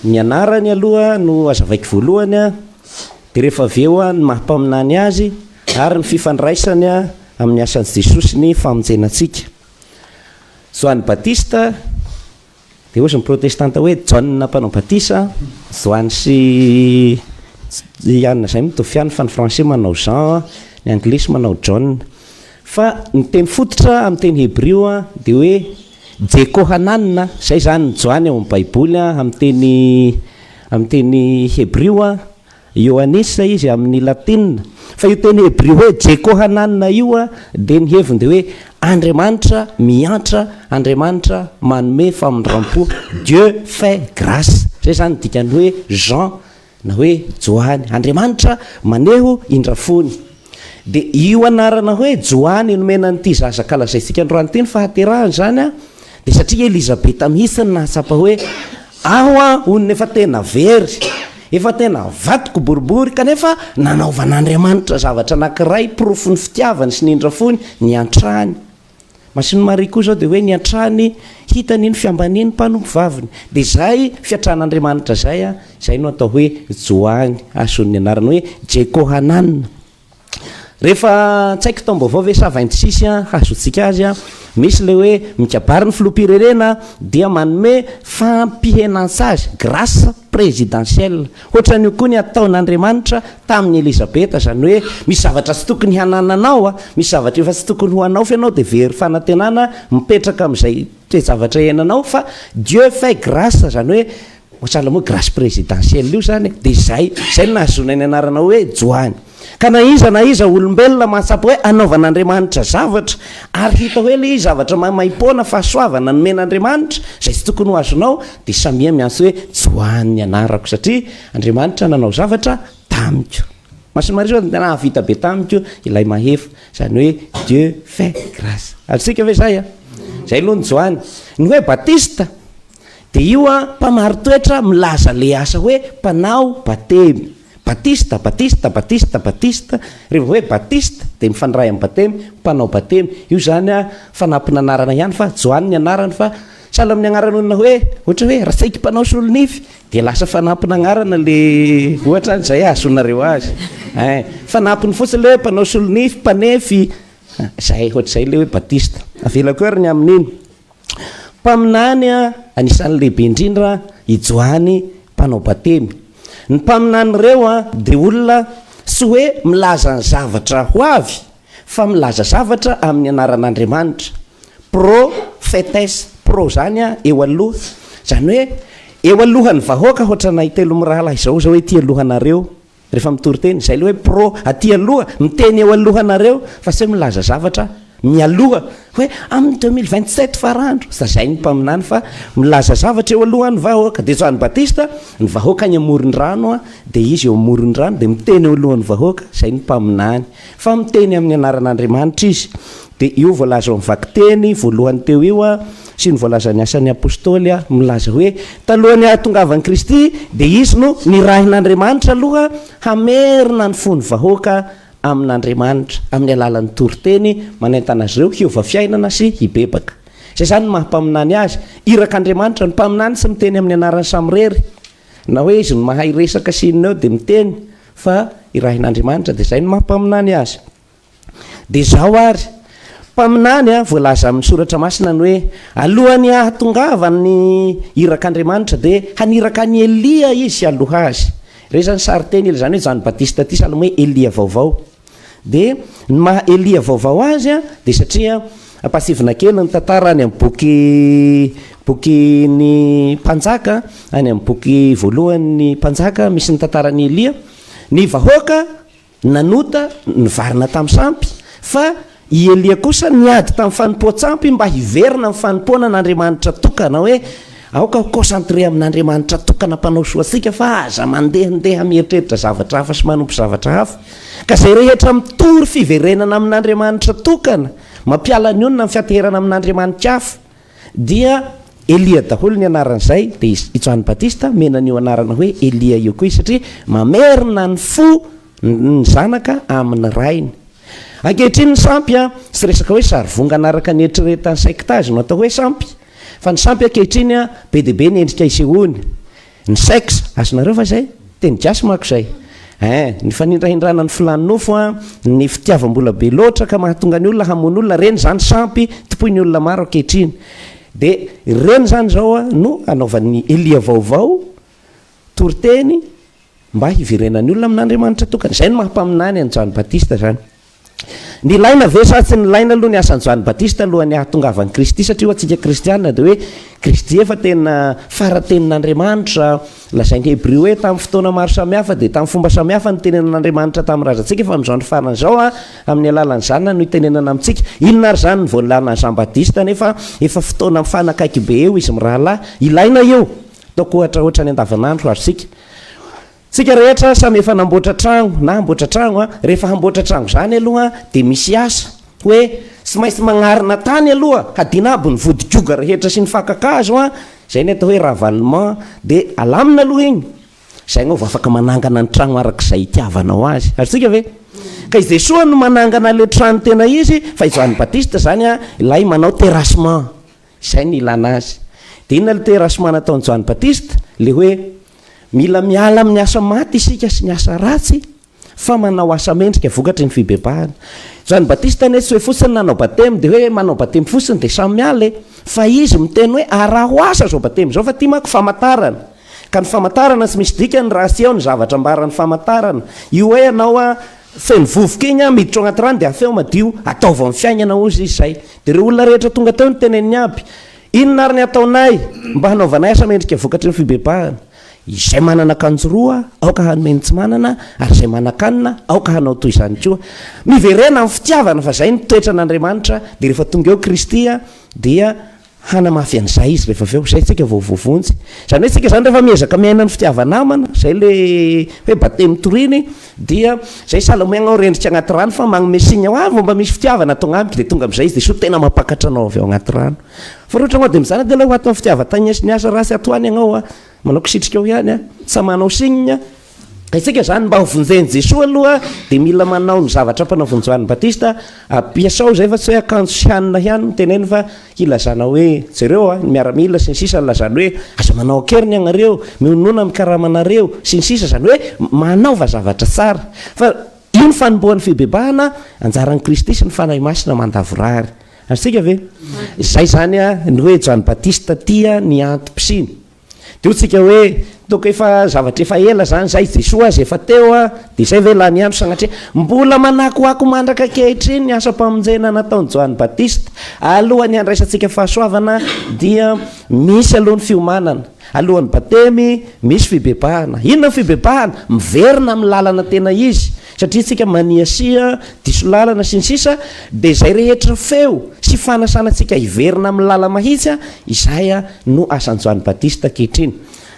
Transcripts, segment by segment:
Ny anarany aloha no azavaiko voalohany an, dia rehefa avy eo an ny maha mpaminany azy ary ny fifandraisany an amin'ny asan'i Jesosy ny famonjena antsika. Joany Batista, dia hozy ny protestanta hoe Jaona mpanao batisa, Joany sy Iana izay mitovy ihany fa ny français manao Jean an, ny anglisy manao John. Fa ny teny fototra amin'ny teny hebrio an dia hoe. Jekohanan, izay izany ny Joany ao amin'ny Baiboly, amin'ny teny amin'ny teny hebrio, Iohannis izy amin'ny latina. Fa io teny hebrio hoe Jekohanan io dia ny heviny dia hoe Andriamanitra miantra, Andriamanitra manome famindram-po, Dieu fait grace. Izay izany ny dikan'ny hoe Jean. Na hoe Joany. Andriamanitra maneho indra fony. Dia io anarana hoe Joany nomena an'ity zaza kalazaintsika androany ity ny fahaterahany izany an, dia satria Elizabeta mihitsy no nahatsapa hoe aho an hono nefa tena very, efa tena vadiko boribory kanefa nanaovan'Andriamanitra zavatra anankiray porofon'ny fitiavany sy ny indra fony niantrany. Masin'i Maria koa izao dia hoe niantrany hitany ny fiambanian'ny mpanompo vaviny. Dia izay fiantran'Andriamanitra izay, izay no atao hoe Joany, ahazoany ny anarana hoe Jekohanan. Rehefa tsaiky taom-baovao ve sa vainty sisy hahazoantsika azy? Misy ilay hoe mikabary ny filoham-pirenena dia manome fampihenan-tsazy, grâce présidentielle, Hoatran'io koa ny ataon'Andriamanitra tamin'i Elizabeta, izany hoe misy zavatra tsy tokony hanananao, misy zavatra efa tsy tokony ho anao fa ianao dia very fanantenana mipetraka amin'izay toe-javatra iainanao fa Dieu fait grace, izany hoe ohatran'ilay moa grace présidentielle io izany e, dia izay, izay no nahazoana ny anarana hoe Joany. Ka na iza na iza olombelona mahatsapa hoe anaovan'Andriamanitra zavatra, ary hita hoe ilay izy zavatra maimaim-poana, fahasoavana nomen'Andriamanitra, izay tsy tokony ho azonao, dia samia miantso hoe tsy ho any ny anarako, satria Andriamanitra nanao zavatra tamiko. Mason'i Maria Zôaniny, nahavita be tamiko ilay Mahefa, izany hoe Dieu fait grâce. Azontsika ve izay an? Izay aloha ny Jôany. Ny hoe Batista, Dia io an, mpamari-toetra milaza le asa hoe mpanao batemy. Batista, batista, batista, batista. Reva hoe batista dia mifandray amin'ny batemy, mpanao batemy. Io zany an, fanampon'anarana ihany fa Joany ny anarany fa sahala amin'ny anaran'olona hoe ohatra hoe Ratsaiky mpanao solonify dia lasa fanampon'anarana le ohatra izay ahazoanareo azy. Ein, fanampiny fotsiny le hoe mpanao solonify, mpanefy, zay, ohatr'izay le hoe batista. Avelako hery ny amin'iny. Mpaminany anisan'ny lehibe indrindra i Joany Mpanao Batemy. Ny mpaminany ireo dia olona tsy hoe milaza ny zavatra ho avy fa milaza zavatra amin'ny anaran'Andriamanitra. Pro phetes, pro izany eo aloha, izany hoe eo alohan'ny vahoaka, hoatranay telo mirahalahy izao, izao ety alohanareo. rehefa mitory teny, izay ilay hoe pro aty aloha miteny eo alohanareo fa sao milaza zavatra mialoha hoe amin'ny deux mille vingt sept farandro sazain'ny mpaminany fa milaza zavatra eo alohan'ny vahoaka dia Joany Batista ny vahoaka any amoron'ny rano a dia izy eo amoron'ny rano dia miteny eo alohan'ny vahoaka izay ny mpaminany Fa miteny amin'ny anaran'Andriamanitra izy. Dia io voalaza ao amin'ny vakiteny voalohany teo io sy ny voalazan'ny Asan'ny Apôstôly milaza hoe talohan'ny hahatongavan'i Kristy dia izy no nirahin'Andriamanitra aloha hamerina ny fon'ny vahoaka amin'Andriamanitra amin'ny alalan'ny toriteny manentana azy ireo hiova fiainana sy hibebaka. Izay izany no maha-mpaminany azy. Irak'Andriamanitra ny mpaminany sy miteny amin'ny anarany samirery. Na hoe izy no mahay resaka sy inona eo dia miteny fa irahin'Andriamanitra dia izay no maha mpaminany azy. Dia izao ary, mpaminany an, voalaza amin'ny soratra masina ny hoe alohan'ny hahatongavan'ny irak'Andriamanitra dia haniraka an'i Elia izy hialoha azy. Ireo izany sarinteny, izany hoe Joany Batista ity, sahala amin'ny hoe Elia vaovao. Dia ny maha Elia vaovao azy dia satria ampasivina kely ny tantara any amin'ny boky bokin'ny Mpanjaka, any amin'ny boky voalohan'ny Mpanjaka misy ny tantaran'i Elia, ny vahoaka nanota nivarina tamin'ny sampy fa I Elia kosa niady tamin'ny fanompoan-tsampy mba hiverina amin'ny fanompoana an'Andriamanitra tokana, hoe, Aoka ho concentré amin'Andriamanitra tokana mpanao soa antsika fa aza mandehandeha mieritreritra zavatra hafa sy manompo zavatra hafa. Ka izay rehetra mitory fiverenana amin'Andriamanitra tokana, mampiala ny onona amin'ny fianteherana amin'andriamani-kafa, dia Elia daholo ny anaran'izay, dia i Joany Batista omena an'io anarana hoe Elia io koa izy satria mamerina ny fo, Ny zanaka amin' ny rainy. Ankehitriny ny sampy a, tsy resaka hoe sary vongana araka ny eritreretan' ny sectage no atao hoe sampy, fa ny sampy ankehitriny a, be dia be ny endrika isehoany, ny sex, azonareo va izay? Teny gasy manko izay. Ein, ny fanindrahindrana ny filàn'ny nofo a, ny fitiavam-bola be loatra ka mahatonga ny olona hamono olona, ireny izany sampy tompoin'ny olona maro ankehitriny. Dia ireny izany izao a, no anaovan'ny elia vaovao Toriteny mba hiverenan'ny olona amin'Andriamanitra tokana. Izay no maha-mpaminany an'i Joany Batista izany. Nilaina ve sa tsy nilaina aloha ny asan'i Joany Batista alohan'ny hahatongavan'i Kristy? Satria ho antsika kristiana dia hoe Kristy efa tena fara-tenin'Andriamanitra. Lazain'ny Hebreo hoe tamin'ny fotoana maro samihafa dia tamin'ny fomba samihafa nitenenan'Andriamanitra tamin'ny razantsika fa amin'izao andro farany izao amin'ny alalan'ny Zanany no itenenana amintsika. Inona ary izany ny voalàlan'i Jean Batista nefa efa fotoana mifanakaiky be eo izy mirahalahy? Ilaina io. Ataoko ohatra ohatra ny andavanandro ary isika Tsika rehetra samy efa namboatra tragno na hamboatra tragno a, rehefa hamboatra tragno izany aloha dia misy asa hoe tsy maintsy magnarina tany aloha hadina aby ny vodikoga rehetra sy ny fakan-kazo a, izay ny atao hoe ravalement dia alamina aloha igny izay anao vao afaka manangana ny tragno araka izay itiavanao azy, azontsika ve? Ka i Jesoa no manangana le trano tena izy fa i Joany Batista izany a ilay manao terrassement. Izay no ilana azy. Dia inona ilay terasma nataon'i Joany Batista? Ilay hoe, mila miala amin'ny asa maty isika sy ny asa ratsy fa manao asa mendrika vokatry ny fibebahana. Joany Batista anie tsy hoe fotsiny nanao batemy dia hoe manao batemy fotsiny dia samy miala e! Fa izy miteny hoe araho asa izao batemy izao fa ity manko famatarana. Ka ny famatarana tsy misy dikany raha tsy eo ny zavatra ambaran'ny famatarana. Io hoe ianao a. Feno vovoka iny an, miditra ao anaty rano dia afeo madio, ataovy amin'ny fiainana hozy izy izay. Dia ireo olona rehetra tonga teo no teneniny aby, inona ary ny hataonay mba hanaovanay asa mendrika vokatry ny fibebahana? Izay manana akanjo roa aoka hanome ny tsy manana ary izay manan-kanina aoka hanao toy izany koa. Miverena amin'ny fitiavana fa izay no toetran'Andriamanitra dia rehefa tonga eo Kristy dia Hanamafy an'izay izy rehefa avy eo, izay tsika vao voavonjy. Izany hoe tsika izany rehefa miezaka miaina ny fitiava-namana, izay ilay hoe batemy toriny, dia izay sahala amin'ny hoe anao rendrika anaty rano fa manome signe hoe ah vao mba misy fitiavana tonga amiko dia tonga amin'izay izy dia sao tena mampakatra anao avy ao anaty rano. Fa raha ohatra ianao dia mizara dia ilay ho ato amin'ny fitiavan-tagny sy ny asa raha tsy ato any ianao, manao kisitrika ao ihany, tsy manao signe, Isika izany mba ho vonjen'i Jesoa aloha dia mila manao ny zavatra mpanavon'i Joany Batista, ampiasao izay fa tsy hoe akanjo sy hanina ihany no teneno fa hilazana hoe jereo a, ny miaramila sy ny sisa nilazany hoe aza manao an-keriny ianareo, mihonona amin'ny karamanareo sy ny sisa, izany hoe manaova zavatra tsara. Fa io ny fanombohan'ny fibebahana, anjaran'i Kristy sy ny Fanahy Masina mandavorary. Azontsika ve? Izay izany a, ny hoe Joany Batista tia ny antom-pisiany. Dia hoy tsika hoe, Toaka efa zavatra efa ela izany izay, i Jesoa aza efa teo a! Dia izay ve lany andro sanatria? Mbola manakoako mandraka ankehitriny ny asam-pamonjena nataon'i Joany Batista. Alohan'ny handraisantsika fahasoavana dia misy aloha ny fiomanana. Alohan'ny batemy, misy fibebahana. Inona ny fibebahana? Miverina amin'ny lalana tena izy. Satria tsika maniasia, diso lalana sy ny sisa dia izay rehetra feo sy fanasana tsika hiverina amin'ny lala mahitsy izay no asan'i Joany Batista ankehitriny.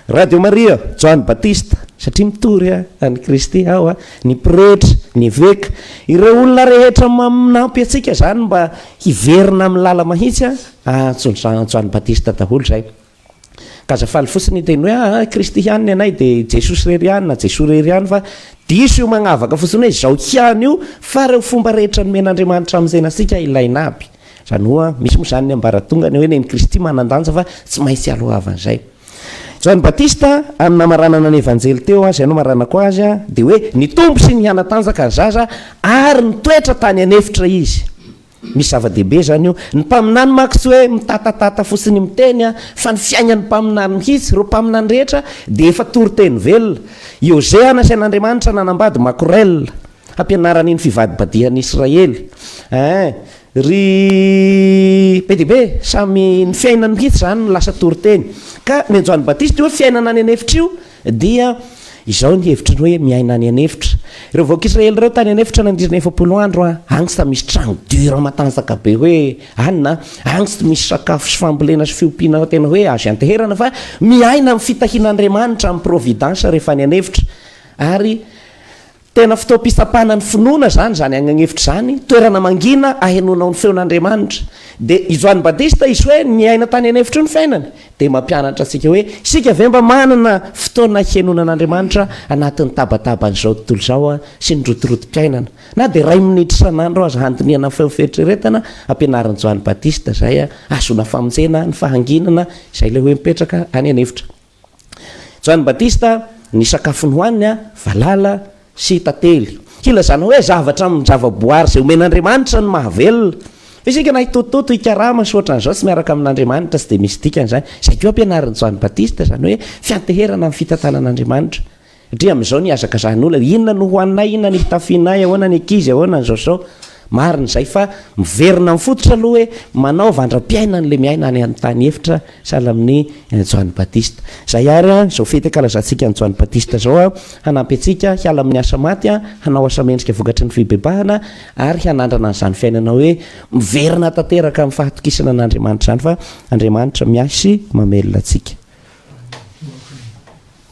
Radio Maria, Joany Batista, satria mitory an'i Kristy aho, ny pretra, ny eveka, ireo olona rehetra manampy antsika izany mba hiverina amin'ny lala mahitsy, antso Joany Batista daholo izay. Aza faly fotsiny hiteny hoe aa kristy ihany ny anay dia i jesosy irery ihany na jesoa irery ihany fa diso io magnavaka fotsiny hoe izao ihany io fa reo fomba rehetra nomen'andriamanitra amin'izena antsika ilaina aby izany hoa misy moa izany ny ambaratongany hoe neny kristy manandanja fa tsy maintsy alohavan'izay John Batista amin'ny namaranana ny evanjely teo an izay no maranako azy an dia hoe nitombo sy nihanatanjaka ny zaza ary nitoetra tany an'efitra izy Misy zava-dehibe izany eo. Ny mpaminany manko tsy hoe mitatatata fotsiny miteny an, fa ny fiaingan'ny mpaminany mihitsy, ireo mpaminany rehetra dia efa toriteny velona. I Hosea nasain'Andriamanitra nanambady Makorel, hampianarany ny fivadibadihan'ny Israely. Ee, ry be dia be, samy ny fiainany mihitsy izany no lasa toriteny. Ka nenjoan'ny Batista io hoe fiainana any an'efitra io, Dia izao ny hevitry ny hoe miaina any an'efitra. Ireo vahoaka Israely ireo tany an'efitra nandritra ny efapolo andro, agny tsy misy tragno dur matanjaka be hoe ann, agny tsy misy sakafo sy fambolena sy fiompiana tena hoe azo ianteherana fa miaina amin'ny fitahian'Andriamanitra, amin'ny providence rehefa any an'efitra. Ary Tena fotoam-pitsapana ny finoana izany, izany agnan'efitra izany, toerana mangina ahenoanao ny feon'Andriamanitra. Dia i Joany Batista izy hoe niaina tany an'efitra io ny fiainany, dia mampianatra antsika hoe isika ve mba manana fotoana henoana an'Andriamanitra anatin'ny tabataban'izao tontolo izao sy ny rotorotom-piainana. Na dia iray minitra isan'andro aza handinihana ny feo fieritreretana ampianarin'i Joany Batista izay ahazoana famonjena ny fahanginana izay ilay hoe mipetraka any an'efitra. Joany Batista, Ny sakafony hohaniny, valala sy tantely. Hilazana hoe zavatra amin'ny zavaboary izay omen'Andriamanitra ny mahavelona. Fa isika na hitotitoto, hikarama sy ohatran'izao tsy miaraka amin'Andriamanitra tsy dia misy dikany izany. Izay koa ampianarin'i Joany Batista, izany hoe fianteherana amin'ny fitantanan'Andriamanitra. Ndrii amin'izao nihazakazahan'olona inona no hohaninay inona ny fitafianay ahoana ny ankizy ahoana ny zao zao marina izay fa miverina amin'ny fototra aloha hoe manao vandram-piainana ilay miaina any amin'ny tany efitra sahala amin'ny Joany Batista izay ary an izao fety ankalazantsika an'i Joany Batista izao an hanampy antsika hiala amin'ny asa maty an hanao asa mendrika vokatry ny fibebahana ary hanandrana an'izany fiainana hoe miverina tanteraka amin'ny fahatokisana an'Andriamanitra izany fa Andriamanitra miahy sy mamelona antsika